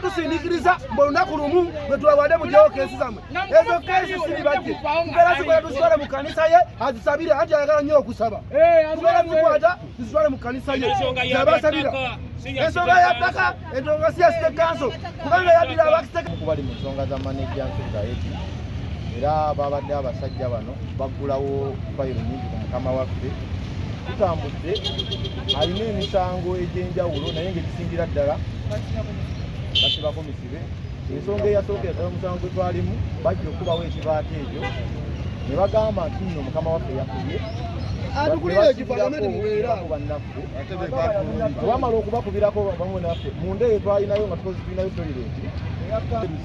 tusindikiriza mbu olunaku lumu lwe tubawadde mujewo keesi zamwe ezo keesi siribajje tubeera zikola tuzitwale mu kanisa ye azisabire anti ayagala nnyo okusaba tubeera zikwata tuzitwale mu kanisa ye zabasabira ensonga ya ttaka ensonga si ya site kanso kubanga yaddira abakisekuba li mu nsonga za manejja nsugaeti era babadde abasajja bano baggulawo fayiro nyingi ku mukama waffe tutambudde alina emisango egy'enjawulo naye ngaekisingira ddala basibako misibe ensonga eyasookera ddala omusango gwe twalimu bajja okubawo ekibaako ekyo ne bagamba nti nno mukama waffe yakubye wamala okubakubirako bamu naffe munda eyo twalinayo nga tukozi tulinayo toyireti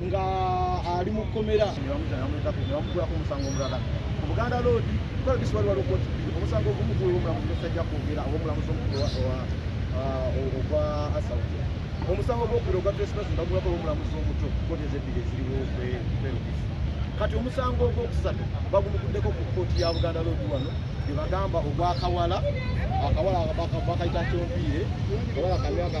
nga ali mu kkomera nebamugulako omusango omulala ku buganda loodi kukola bisibali waliwo koti bbiri omusango ogumu guli omulamuzi nesajja kwogera oba omulamuzi omukulu ogwa uh, asauti omusango gwokubiri ogwa trespass bagulako omulamuzi omuto koti ezebbiri eziriwo kwerukisi kati omusango ogwokusatu bagumuguddeko ku kooti ya buganda loodi wano gyebagamba ogwakawala akawala bakayita kyompiire kawala kamyaka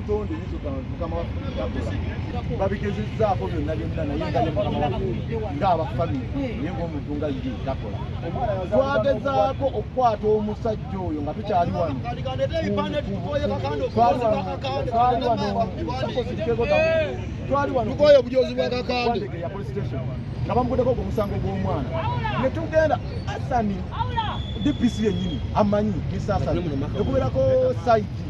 tonde nizo mukama waffe babigezezzaako byonna byonna naye nga ne mukama waffe ng'abafamire naye ng'omuntu nga ye takola twagezaako okukwata omusajja oyo nga tukyali wano twali wano tukoye obujozi bwa kakande nga bamugudeko ogwo omusango gw'omwana ne tugenda asani dpc yennyini amanyi misasani ekubeerako saidi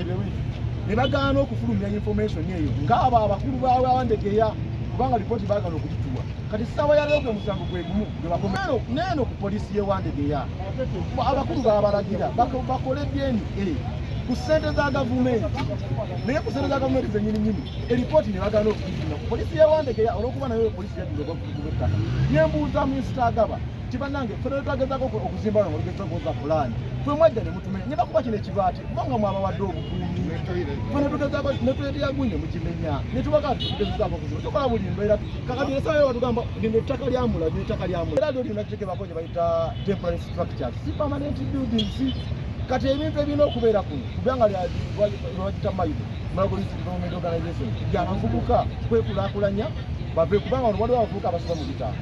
ne bagaana okufulumya information eyo ng'abo abakulu baabwe abandegeya kubanga lipooti baagala okugituwa kati ssaawa ya leero gwe musango gwe gumu gwe bakoma neeno ku poliisi y'e wandegeya abakulu baabalagira bakole dna ku ssente za gavumenti naye ku ssente za gavumenti zenyininyini eripooti ne bagaana okugifuna ku poliisi y'e wandegeya olw'okuba nayo poliisi yadduza ogwakugumu ettaka nembuuza minsita agaba nti bannange ffe lwe twagezako okuzimba nga olugezesa okuwoza pulaani fwe mwajja ne mutumenya ne bakuba kino ekibaati kuba nga mwabawadde obukuumi fwe netugezako netweteyagunye mukimenya netubaka tugezezaako kuziba tukola buli mbeera kakati esawa yo batugamba lino ettaka lyamula lino ettaka lyamula era lyo lino kitekebako gye bayita temporary structure si permanent buildings kati ebintu ebirina okubeera kuno kubanga lwagita mayido malgolisi development organization byabavubuka kwekulakulanya bave kubanga waliwo abavubuka abasoba mu bitabo